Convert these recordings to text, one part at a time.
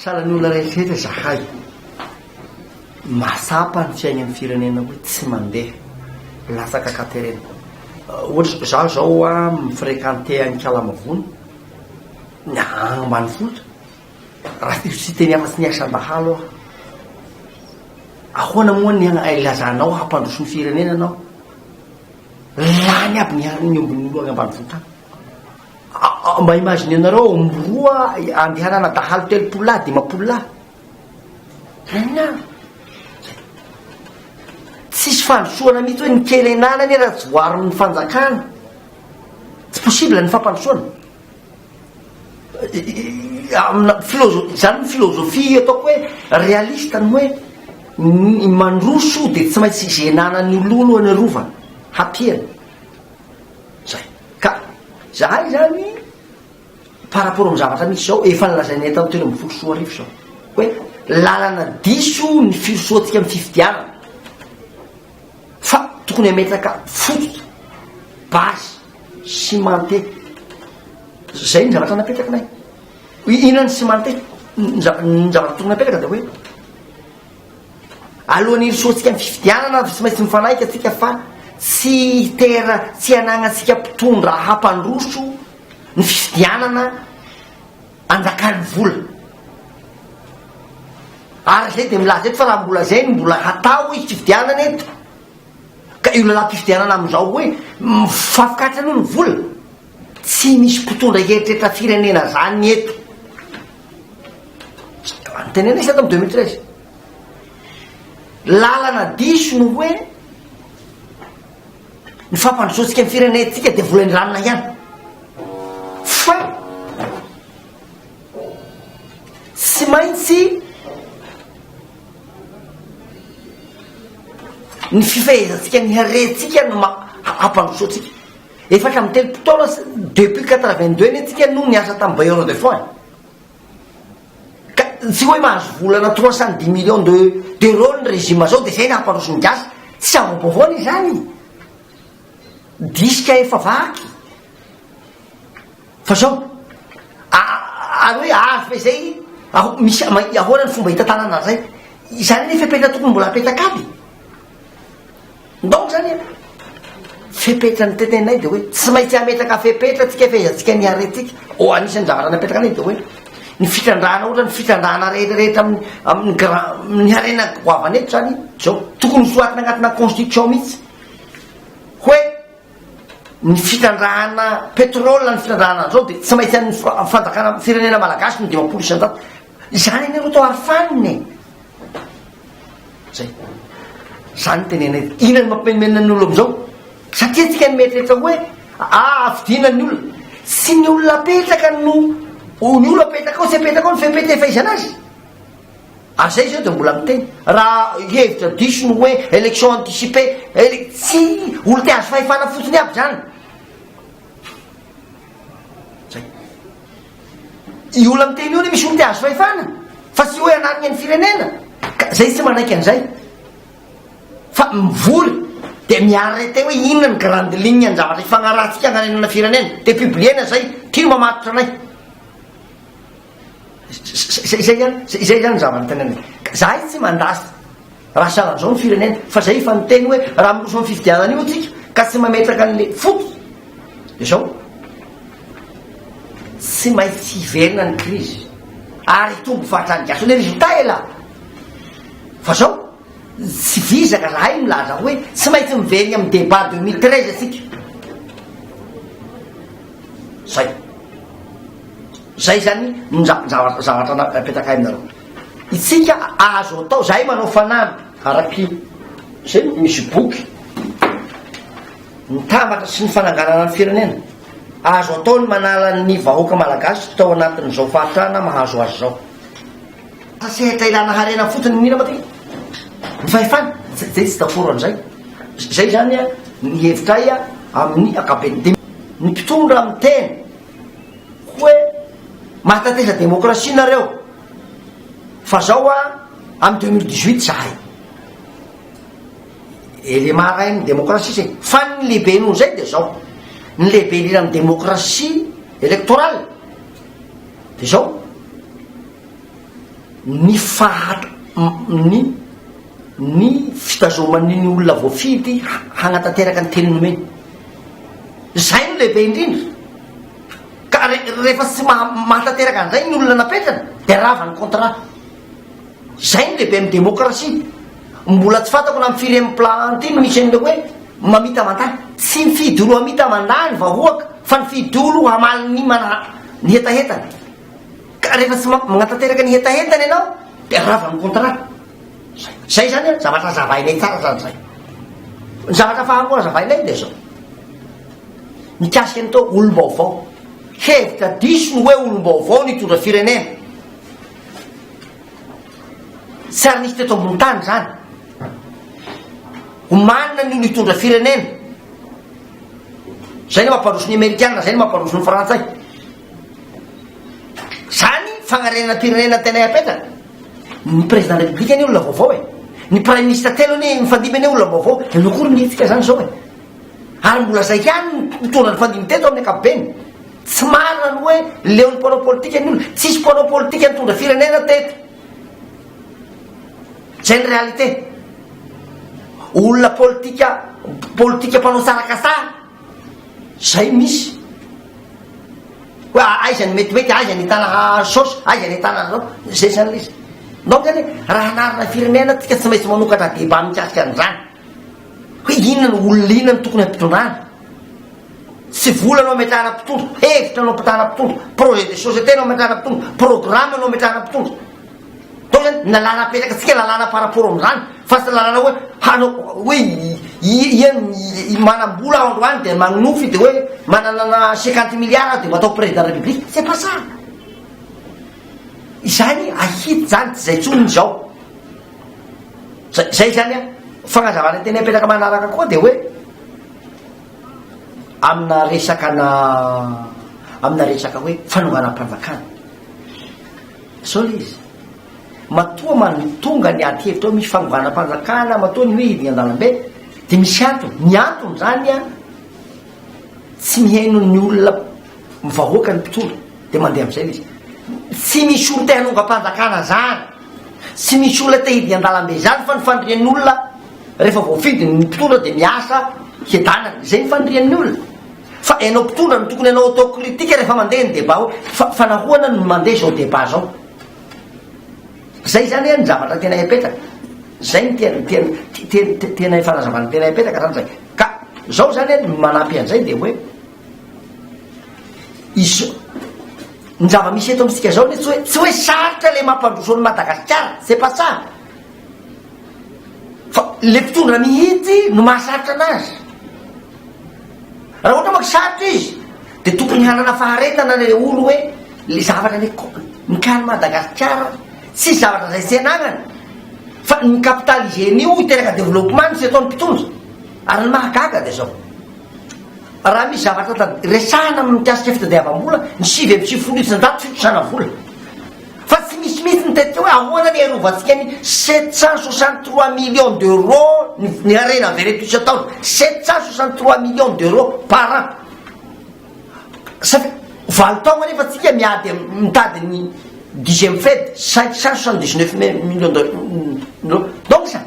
Salan'olona rehetrarehetra izahay. Mahatsapa ny fiainan'ny firenena hoe tsy mandeha. Latsaka katerena. Ohatra, izaho izao mi-fréquenter an'i Kalamavony, ny agny ambanivohitra, raha tsy misy teny afa-tsy ny asa dahalo aho. Ahoana moa ny agny ilazanao hoe hampandroso ny firenena ianao? Lany aby ny ombin'ny olona agny ambanivohitra agny. Mba imaginenareo ao amin'ny roa andehanana dahalo telopolo lahy, dimampolo lahy. Inona? Tsisy fandrosoana mihitsy hoe ny kely an'ala anie raha tsy voaron'ny fanjakana. Tsy possible ny fampandrosoana. Amina filozo- izany ny filozofia ataoko hoe realista ny hoe ny mandroso dia tsy maintsy izenanan'ny olona eo aloha ny arovana, hapiana. Zay. Ka zahay zany par rapport amin'ny zavatra misy zao, efa nilazainay tany telo ambin'ny folo sy roa arivo zao hoe lalana diso ny firosoantsika amin'ny fifidianana fa tokony hametraka fototra, base, cimenté. Zay ny zavatra napetrakinay. Inona ny cimenté? Ny zavatra tokony hapetraka dia hoe. Alohan'ny hirosoantsika amin'ny fifidianana dia tsy maintsy mifanaiky antsika fa tsy hitera tsy hanagnantsika mpitondra hampandroso ny fifidianana anjakan'ny vola. Ary izay dia milaza eto fa raha mbola izay no mbola hatao izy fifidianana eto ka io lalam-pifidianana amin'izao hoe mifampikatsa aloha ny vola. Tsy misy mpitondra heritreritra firenena zany ny eto. Tenenina izy tato am deux mille treize. Lalana diso no hoe ny fampandrosoantsika ny firenentsika dia vola indramina ihany. Fa tsy maintsy ny fifehezantsika ny harentsika no ma- hampandrosoantsika. Efatra amby telopolo taona depuis quatre vingt deux anie tsika no niasa tamin'ny bailleur de fonds e! Ka tsy hoe mahazo volana trois cent dix millions de d'euros ny régime zao dia izay no hamparoso ny gasy, tsy havaobaovao anie izany! Disque efa vaky! Fa zao, a ary hoe avy izay aho misy ahoana ny fomba hitantanana an'izay? Izany anie fepetra tokony mbola apetaka aby! Ndao zany e! Fepetra ny teneninay dia hoe tsy maintsy hametraka fepetra tsika fehezantsika ny harentsika. Ô anisan'ny zavatra napetraka anay dia hoe ny fitrandrahana ohatra ny fitrandrahana rehetra rehetra amin'ny amin'ny grand amin'ny harena goavana eto zany zao tokony soratana anatina constitution mihitsy hoe ny fitrandrahana pétrole ny fitrandrahana an'izao dia tsy maintsy an'ny fanjakana firenena malagasy ny dimampolo isanjato Izany anie ro to ary fanina e! Zay. Zany tenenay. Inona no mampimenomenona ny olona amizao? Satria tsika no mieritreritra hoe ahavidiana ny olona. Tsy ny olona apetraka no o ny olona apetraka ao tsy apetraka ao ny fepetefaizana azy. Ary zay zao dia mbola miteny. Raha hevitra diso ny hoe election anticipée, ele tsy olona te hahazo fahefana fotsiny aby zany. Io olona miteny io anie misy olona te hahazo fahefana fa tsy hoe hanarina ny firenena ka zay tsy manaiky an'izay fa mivory dia mi-arrêter hoe inona ny grande ligne ny zavatra ifagnarahantsika hagnarenana firenena dia publier-na zay ty no mamatotra anay zay zay ihany zay zay ihany ny zava-nitenenany ka zahay tsy mandà Raha sahala amin'izao ny firenena, fa izay efa niteny hoe raha miroso amin'ny fifidianana io isika ka tsy mametraka an'ilay foko dia izao, tsy maintsy hiverina ny krizy ary hitombo fahatrany gasy. Ilay résultat est là. Fa izao, tsy vizaka zahay milaza hoe tsy maintsy miverina amin'ny débat 2013 isika. Zay. Zay zany no zavatra zavatra napetrakay aminareo. Itsika azo atao zahay manao fanamby. Araky zay misy boky mitambatra sy ny fananganana ny firenena. Azo atao ny manala ny vahoaka malagasy tao anatin' izao fahatrana mahazo azy zao. Sa sehatra ilana harena fotsiny ny mila matetika? Ny fahefana? Zay zay tsy dakoro an'izay. Zay zany ny hevitray amin'ny ankapobeny. Dia ny mpitondra miteny. Hoe mahatateza demokrasia nareo fa zao a am deux mille dix huit zahay élément ray ny demokrasia zay fa ny lehibe noho zay de zao ny lehibe indrindra ny demokrasia électorale de zao ny fahat ny ny fitazomany ny olona voafidy hanatanteraka ny teny nomeny. Izay no lehibe indrindra. Ka re rehefa tsy maha mahatanteraka an'izay ny olona napetrany dia rava ny contrat. Izay no lehibe amin'ny démocratie. Mbola tsy fantako na amin'ny firen'ny plan ty no misy an'ilay hoe mamita mandat. Tsy mifidy olo hamita mandat ny vahoaka fa mifidy olo hamaly ny mana ny hetahetany. Ka rehefa tsy manatanteraka ny hetahentany ianao dia rava ny contrat. Zay zany an, zavatra azavainay tsara zany zay. Ny zavatra faha roa azavainay dia zao. Mikasika ny tao olom-baovao. Hevitra diso ny hoe olom-baovao nitondra firenena. Tsy ary nisy teto ambony tany zany. Omanina ny nitondra firenena. Zay ny mampandroso ny Amerikana, zay ny mampandroso ny Frantsay. Zany fagnarenana firenena tena iapetraka. Ny président de la république anie olona vaovao e. Ny prime ministre telo anie mifandimby anie olona vaovao. Ianao koa ry mihetsika zany zao e. Ary mbola zay ihany mitondra ny fandimby teto amin'ny ankapobeny. Tsy marina ny hoe leon'ny mpanao politika ny olona. Tsisy mpanao politika nitondra firenena teto. Zay ny réalité. Olona politika politika mpanao sarakasa. Zay misy. Hoe aiza ny metimety, aiza ny hitana hahazo saosy, aiza ny hitana an'izao, zay zany le izy. Donc zany hoe raha hanarina firenena tsika tsy maintsy manokatra débat mikasika an'izany. Hoe inona no olona inona no tokony hampitondrana. Tsy vola no ametrahana mpitondra, hevitra no ampitahana mpitondra, projet de société no ametrahana mpitondra, programme no ametrahana mpitondra. Tena na lalana apetrakantsika lalana par rapport amin'izany fa tsy lalana hoe hanao hoe ian'ny manam-bola androany dia manonofy dia hoe manana cinquante milliards aho dia mba atao président de la république c'est pas ça izany ahita izany tsy izay intsony ny izao zay zay izany a fagnazavana tena apetraka manaraka koa dia hoe amina resaka na amina resaka hoe fanonganam-panjakana Zao le izy, matoa mantonga ny ady hevitra eo amin'ny fanonganam-panjakana, matoa ny hoe hidina an-dalambe, dia misy antony. Ny antony izany an, tsy mihaino ny olona, ny vahoaka ny mpitondra, dia mandeha amin'izay le izy. Tsy misy olona te hanongam-panjakana izany, tsy misy olona te hidina an-dalambe izany fa ny fandirian'ny olona rehefa voafidy ny mpitondra dia miasa hiadanana, izay ny fandirian'ny olona. Fa ianao mpitondra no tokony hanao auto critique rehefa mandeha ny debat hoe fa fa nahoana no mandeha izao debat izao. Zay zany an ny zavatra tena epetaka. Zay ny tena tena tena tena fanazavana tena epetaka zany zay. Ka zao zany an ny manampy an'izay dia hoe izo ny zava-misy eto amintsika izao anie tsy hoe tsy hoe sarotra ilay mampandroso an'i Madagasikara, c'est pas ça. Fa le mpitondra mihitsy no mahasarotra anazy. Raha ohatra manko sarotra izy dia tokony hanana faharetana le olo hoe le zavatra le mikany Madagasikara tsisy zavatra zay tsy anagnany fa ny capital hygiène io hiteraka développement no tsy ataony mpitondra ary ny mahagaga dia zao raha misy zavatra resahana amin'ny mikasika fitadiavam-bola ny sivy amby sivifolo isan-jato fitrosana vola Fa tsy misy mihitsy ny tetika hoe ahoana ny hiarovantsika ny sept cent soixante trois millions d'euros ny harena avy ireto isan-taona, sept cent soixante trois millions d'euros par an. Saika valo taogna nefa tsika miady am- mitady ny dixième Fed cinq cent soixante dix neuf millions d'euros. Donc sa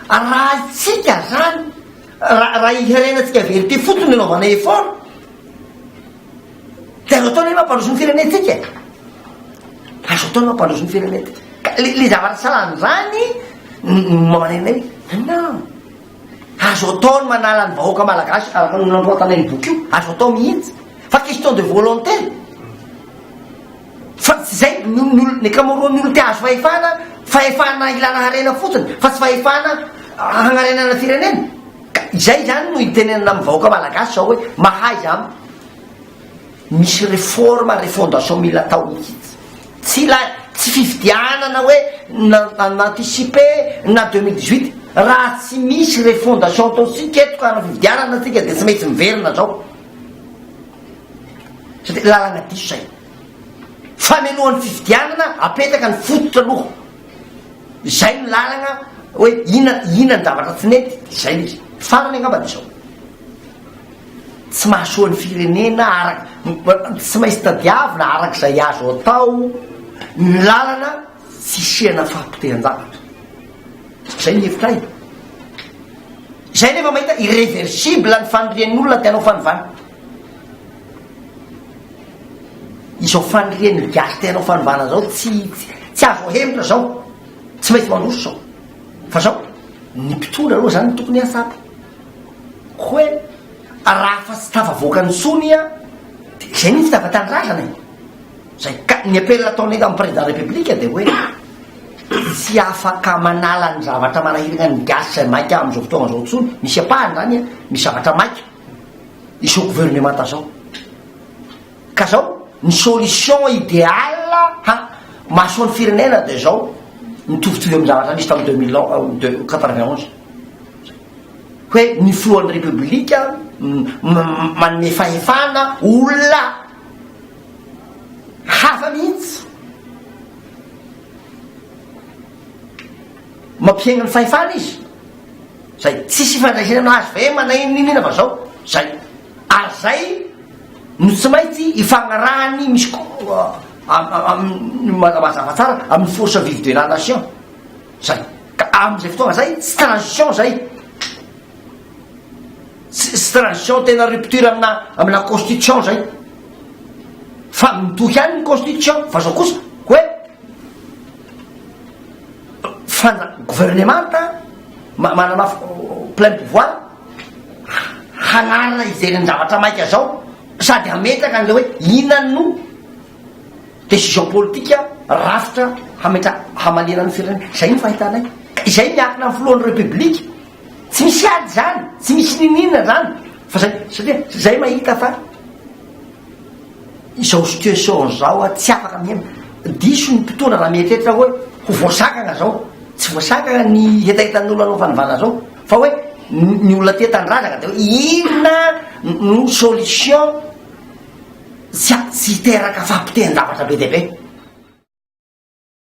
arahintsika zany raha raha i harenatsika avy eo ity fotsiny no anaovana effort, De azo atao ny hoe mampandroso ny firenentsika e. Azo atao ny mampandroso ny firenentsika. Ka le le zavatra salan'ny zany marenay. Non. Azo atao ny manala ny vahoaka malagasy araka ny nanoratanay ny boky io. Azo atao mihitsy. Fa question de volonté. Fa tsy zay ny olona ny ankamaroan'ny olona te hahazo fahefana, fahefana hilana harena fotsiny fa tsy fahefana hagnarenana firenena. Ka izay izany no itenenana amin'ny vahoaka malagasy izao hoe mahaiza an! Misy réforme, refondation mila atao mihitsy. Tsy ilay, tsy fifidianana hoe na anticiper na deux mille dix huit. Raha tsy misy refondation ataontsika eto ka hanao fifidianana tsika dia tsy maintsy miverina izao. Satria lalana diso izay. Famelohan'ny fifidianana apetaka ny fototra aloha. Izay no lalagna hoe inona inona ny zavatra tsy nety dia izay izy. Farany angamba dia izao. Tsy mahasoa ny firenena araka tsy maintsy tadiavina araka izay azo atao ny lalana tsy hisiana fahapotehan-javatra. Izay ny hevitra ahy. Izay nefa mahita irreversible ny fanirian'ny olona te hanao fanovana. Izao fanirian' ny gasy te hanao fanovana zao tsy tsy azo ahemotra zao, tsy maintsy mandroso zao. Fa zao ny mpitondra aloha zany no tokony hatsapa hoe raha fa tsy tafavoaka ny sony a de izay mihitsy tava tanindrazana e. Zay ka ny appel ataonay amin'ny président république de hoe tsy afaka manala ny zavatra manahiragna ny gasy zay maika amin'izao fotoagna zao tsony, misy ampahany zany a, misy zavatra maika. izao gouvernemanta zao ka zao ny solution ideal ha mahasoa ny firenena de zao mitovitovy amin'ny zavatra nisy tamin'ny deux mille un de quatre vingt onze hoe ny filohan'ny repoblika manome fahefana olona hafa mihitsy mampiainga ny fahefana izy Zay tsisy ifandraisany azy fa eh manahia ny niniana fa zao zay ary zay no tsy maintsy ifagnarahany misy koa amin'ny mazava tsara amin'ny force vive de la nation zay ka amin'izay fotoagna zay tsy transition zay tsy transition tena rupture amina amina constitution zay fa mitohy any ny constitution fa zao kosa hoe Fa na governemanta manana plein pouvoir hanarina hijery ny zavatra maika zao sady hametraka an'le hoe inona no decision politika rafitra hametra hamaliana ny firenena. Izay no fahitanay. Ka izay miakina ny filohan'ny Repoblika. Tsy misy ady izany, tsy misy niniana izany. Fa zay, satria zay mahita fa Izao situation zao a tsy afaka miaina, diso ny mpitondra raha mieritreritra hoe ho voasakana zao, tsy voasakana ny hetahetan'olona anaovan'ny vala zao fa hoe ny olona tia tanindrazana de hoe inona no solution tsy tsy hiteraka fahapotehan-javatra be dia be.